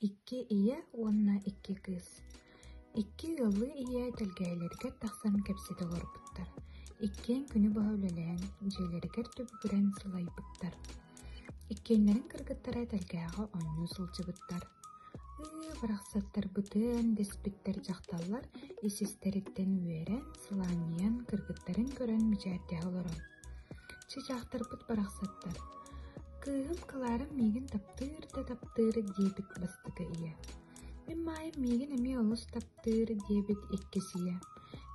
Икки ийэ уонна икки кыыс икки ыаллыы ийэ тэлгэһэлэригэр тахсан кэпсэтэ олорбуттар, иккиэн күнү быһа үлэлэһэн, дьиэлэригэр түбүгүрэн сылайбыттар. Иккиэннэрин кыргыттара тэлгэһэҕэ оонньуу сылдьыбыттар. «Ыы, барахсаттарбытын!» дэспиттэр дьахталлар ис-истэриттэн үөрэн, сылаанньыйан, кыргыттарын көрөн мичээрдэһэ олорон Чычаахтарбыт барахсаттар «Кыыһым Кларам миигин таптыыр да таптыыр диэбит бастакы ийэ, мин Маайым миигин эмиэ олус таптыыр диэбит иккис ийэ,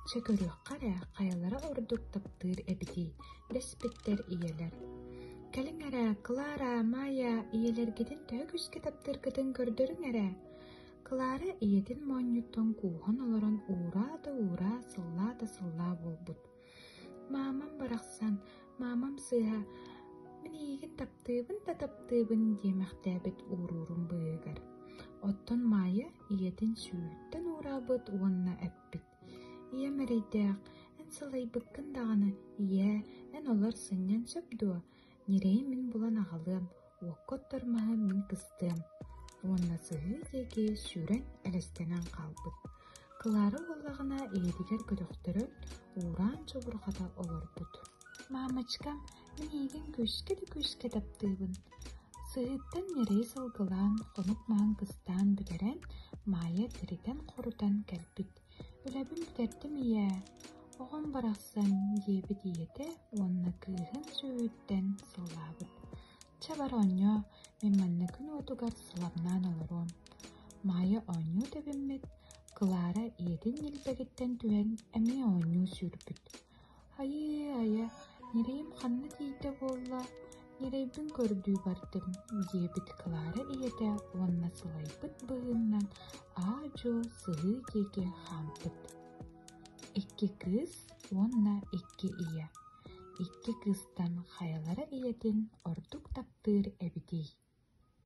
чэ көрүөххэ эрэ хайалара ордук таптыыр эбитий, дэспиттэр ийэлэр. Кэлиҥ эрэ, Клара, Маайа ийэлэргитин төһө күүскэ таптыыргытын көрдөрүҥ эрэ!» Клара ийэтин моонньуттан кууһан олорон ууraa да ууraa, сыллаа да сыллаа буолбут. Маамам барахсан, маамам сыыһа «Мин эйигин таптыыбын да таптыыбын» диэмэхтээбит ууруурун быыһыгар, оттон Маайа ийэтин сүүһүттэн уураабыт уонна эппит, «Ийэм эрэйдээх, эн салайбыккын даҕаны, ийээ, эн олор сынньан сөп дуо? Ньирэйи мин булан аҕалыам, уокка оттор маһы мин кыстыам уонна сыһыы диэки сүүрэн элэстэнэн хаалбыт. Клара буоллаҕына ийэтигэр көтөхтөрөн уураан чубурҕата олорбут. «Мамочка, мин эйигин күүскэ да күүскэ таптыыбын» Сыһыыттан ньирэйи сылгылаан, хонук маһын кыстаан бүтэрэн, Маайа тиритэн-хорутан кэлбит. Билэбин кэрдим ийээ, оҕом барахсан, диэбит ийэтэ уонна кыыһын сүөһүттэн сыллаабыт. Чэ бары оонньоо, мин манна күн уотугар сылабнаан олоруом. Маайа оонньуу тэбиммит, Клара ийэтин ньилбэгиттэн түһэн эмиэ оонньуу сүүрбүт. Айыы-айа, ньирэйим ханна тиийдэ буолла, ньирэйбин көрдүү бардым, диэбит Клара ийэтэ уонна сылайбыт быһыыннан аа-дьуо сыһыы диэки хаампыт. Икки кыыс уонна икки ийэ. Икки кыыстан хайалара ийэтин ордук таптыыр эбитий?